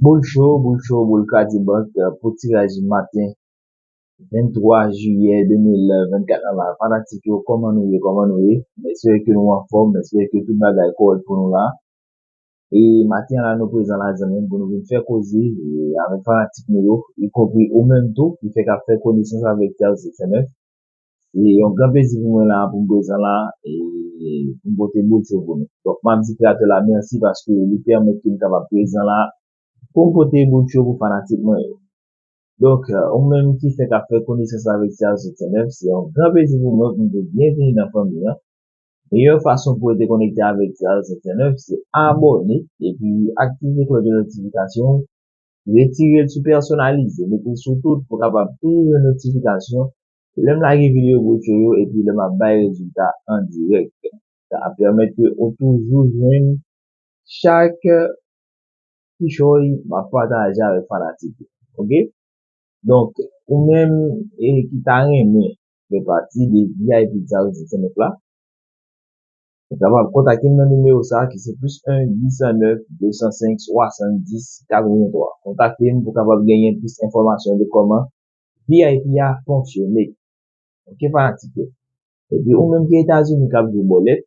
Boul cho, boul cho, boul kradibank pou tiraj maten 23 jiyè 2024 lan la. Fanatik yo kòman nou ye, kòman nou ye. M espere ke nou anfòm, m espere ke tout bagay kòrèk pou nou la. E maten an la nou prezan la zanmi m pou nou vin fè koze avèk fanatik nou yo, ikonpri ou menm tou ki fèk ap fè konesans avèk TH059. Se yon gran plezi pou mwen la, pou m prezan la, e pou m pote bout yo pou nou. Donk m ap di kreyatè la mèsi paske li pèmèt ke m kapab prezan la pou m pote bout yo pou fanatik mwen yo. Donk, ou menm ki fèk ap fè konesans avèk Ti Azout Senef, se yon gran plezi pou mwen pou m di w byenvini nan fanmi an. Meyè fason pou w rete konekte avèk Ti Azout Senef se abòne epi aktive klòch de notifikasyon ou, retire l sou pèsonalize, mete l sou tout pou w kapab toujou jwenn notifikasyon Lè m lage videyo bwochi yo epi lè m ap bay rezilta an dirèk, sa ap pèmèt ke ou toujou jwenn chak kichòy m ap pataje avèk fanatik yo. Ok! Donk, ou menm ki ta renmen fè pati de vip Djaz 209 la, ou kapab kontakte m nan nimewo sa a ki se plis 1 809 205 70 83. Kontakte m pou w kapab genyen plis enfòmasyon de kòman vip a fonksyone ok fanatik yo epi ou menm ki etazini kap jwe bòlèt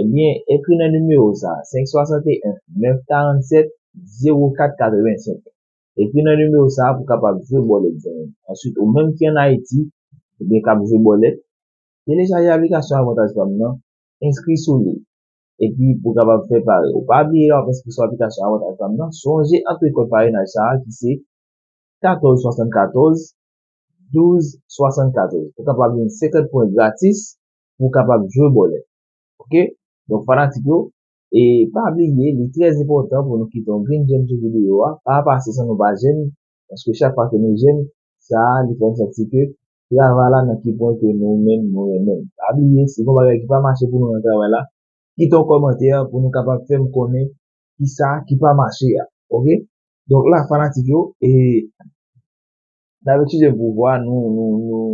ebyen ekri nan nimewo sa 561 947 04 85 ekri nan nimewo sa pou kapab jwe bòlèt zanmim answit ou menm ki an ayiti ebyen kap jwe bòlèt telechaje aplikasyon avantaj pam nan enskri sou li epi pou kapab fè pari ou pa bliye lè wap enskri sou aplikasyon avantaj pam nan sonje antre kòd parenaj sa ki se 14 74 12 74 ou kapab jwenn 50 pwen gratis pou w kapab jwe bòlè ok donk fanatik yo e pa bliye li trè enpòtan pou nou kite yon grenn jèm sou videyo a pa pase san nou pa jèm paske chak fwa ke nou jèm sa li fè nou santi ke travay la nan ki pwen ke nou menm nou renmen l pa bliye si gon bagay ki pa mache pou nou nan travay la kite yon kòmantè pou nou kapab fè m konnen ki sa ki pa mache a. Ok. Donk la fanatik yo e nan vek chije pouvwa nou nou nou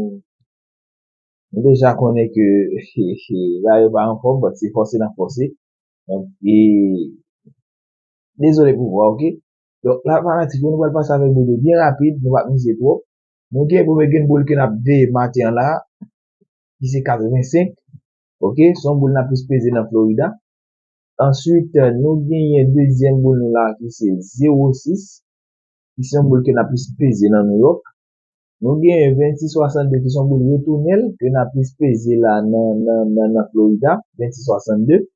nou deja konnen ke he he bagay yo pa anfom bat se fose nan fose. Donk e dezole pouvwa ok. Donk la fanatik yo nou pral pase avek BD byen rapid nou pa mize twop. Nou gen premye gen boul ke nap veye maten an la ki se 85 ok son boul nap plis peze nan Florida. Answit nou genyen dezyèm boul nou la ki se 0 6 ki se yon boul ke na plis peze nan Nouyòk. Nou genyen 26 62 ki se yon boul retounèl ke na plis peze la nan Florida, 26 62.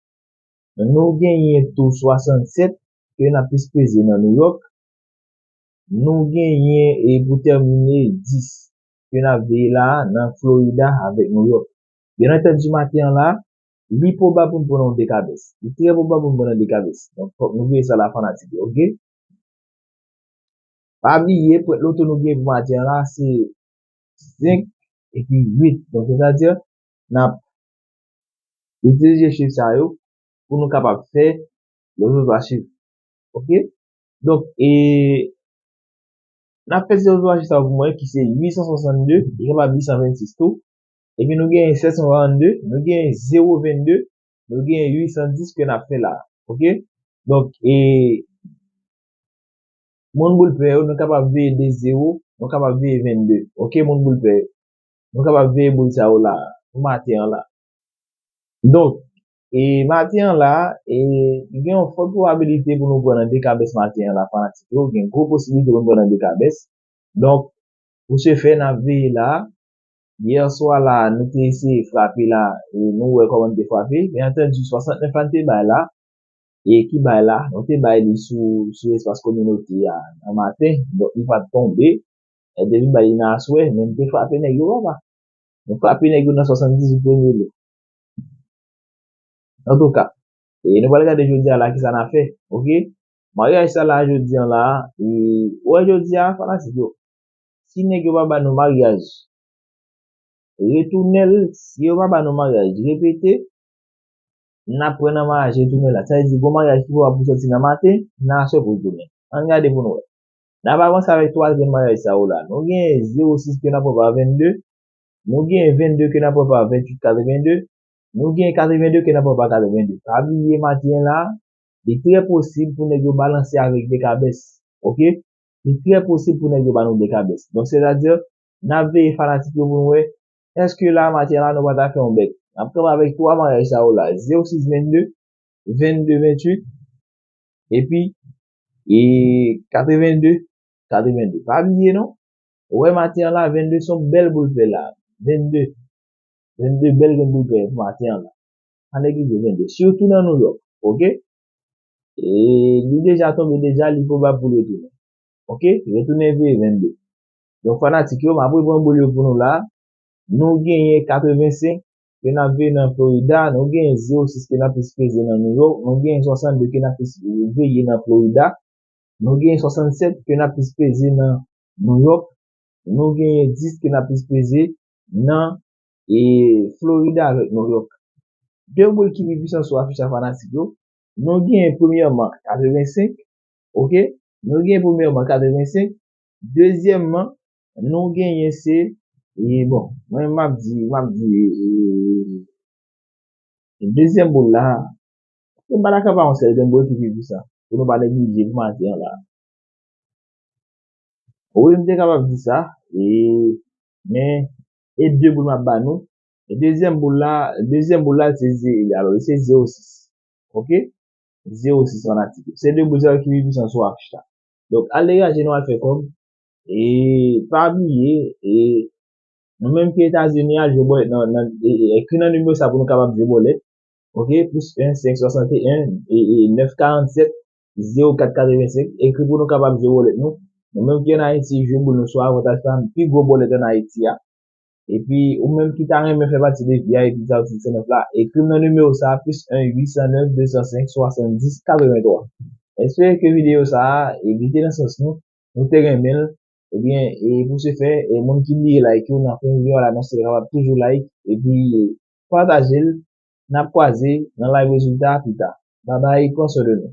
Nou genyen tou 67 ke na plis peze nan Nouyòk. Nou genyen e pou tèmine 10 ke na veye la nan Florida avèk Nouyòk. Byenantèdi maten an la, Li pwobab pou m pran yon dekabès. Li trè pwobab pou m pran yon dekabès. Donk, fòk nou veye sa la fanatik yo, ok? Pa bliye, pwent loto nou gen pou maten an la se 5 epi 8. Donk, se sa di, n ap itilize chif sa yo pou nou kapab fè loto 3 chif. Ok? Donk, e n ap fè ti loto 3 chif sa yo pou mwen ki se 862, li kapab 826 tou. Epi nou genyen 742, nou genyen 022, nou genyen 810 ke nap fè la. Ok? Donk e moun boul pè yo nou kapab veye 2 0, nou kapab veye 22. Ok moun boul pè yo? Nou kapab veye boul sa yo la pou maten an la. Donk e maten an la e gen yon fòt pwobabilite pou nou pran nan 2 kabès maten an la fanatik yo. Gen gwo posibilite pou nou pran nan 2 kabès. Donk pou se fè nap veye la. Hier soir la nou te eseye frape la e nou wè kòman nou te frape. Byen antandi 69 la nou te bay la e ki bay la nou te bay li sou sou espas kominote a nan maten donk li pat tonbe e depi bay li nan aswè men nou te frape nèg yo papa. Nou frape nèg yo nan 78 premye lè. Antouka e nou pral gade jodi a la kisa n a fè ok. Maryaj sa la jodi an la e ou wè jodi a fanatik yo si nèg yo pa ba nou maryaj retounen l si yo pa ba nou maryaj repete n ap pran nan maryaj retounen la sa vle di gon maryaj ki pwobab pou sòti nan maten nan aswè pou l tounen an n gade pou n wè n ap avanse avèk 3 grenn maryaj sa yo la nou gen 0 6 ke n ap pran pa 22 nou gen 22 ke n ap pran pa 28 82 nou gen 82 ke n ap pran pa 82 pa bliye maten la li trè posib pou nèg yo balanse avèk 2 kabès ok li trè posib pou nèg yo ba nou de kabès. Donk sètadi, n ap veye fanatik yo pou n wè èske la matyè la nou pa ta fè yon bèt. N ap kanpe avèk 3 maryaj sa yo la, Zeo 6 22, 22 28 epi 82 82. Pa bliye non, wè matyè an la 22 son bèl boul pè la. 22, 22 bèl gen boul pè pou matyè an la. Pa neglije 22, sitou nan Nouyòk. Ok! e li deja tonbe deja li pwobab poul retounen ok retounen veye 22 donk fanatik yo map repran boul yo pou nou la nou genyen 85 ke nap veye nan florida nou genyen 06 ke nap plis peze nan new york nou genyen 62 ke nap plis veye nan florida nou genyen 67 ke nap plis peze nan new york nou genyen 10 ke nap plis peze nan e florida avèk new york 2 boul ki pi pwisan sou afich la fanatik yo nou gen premyèman 85 ok nou gen premyèman 85 dezyèmman nou genyen se e bon mwen map di map di eee dezyèm boul la m pa dakò pa yon sèl grenn boul ki pi pwisan pou nou pa neglije pou maten an la wi m te kapab di sa eee men e de boul map ba nou Dezyèm boul la, dezyèm boul la se ze egal ou, se ze ou 6. Ok? Ze ou 6 fanatik yo. Se 2 boul sa yo ki pi pwisan sou afich la. Donk, al degaje nou al fè kòb. E, pa bliye, e, nou menm ki Etazini a, jwe bòlèt nan, nan, e, e, ekri nan nimewo sa pou nou kapab jwe bòlèt. Ok? Plis 1, 5, 61, e, e, 9, 47, ze ou 4, 85. Ekri pou nou kapab jwe bòlèt nou. Nou menm ki an Ayiti, jwe boul nou sou avantaj pa nou. Pi gwo bòlèt an Ayiti a. Epi ou menm ki ta renmen fè pati de vip Zaotik 109 la, ekri m nan nimewo sa a plis 1 809 205 70 83. M espere ke videyo sa a li te nan sans nou, nou te renmen l, ebyen e pou se fè e moun ki bliye like yo nan fen videyo a la nan se kapab toujou like epi pataje l, n ap kwaze nan live rezilta a pita. Babay pran swen de nou.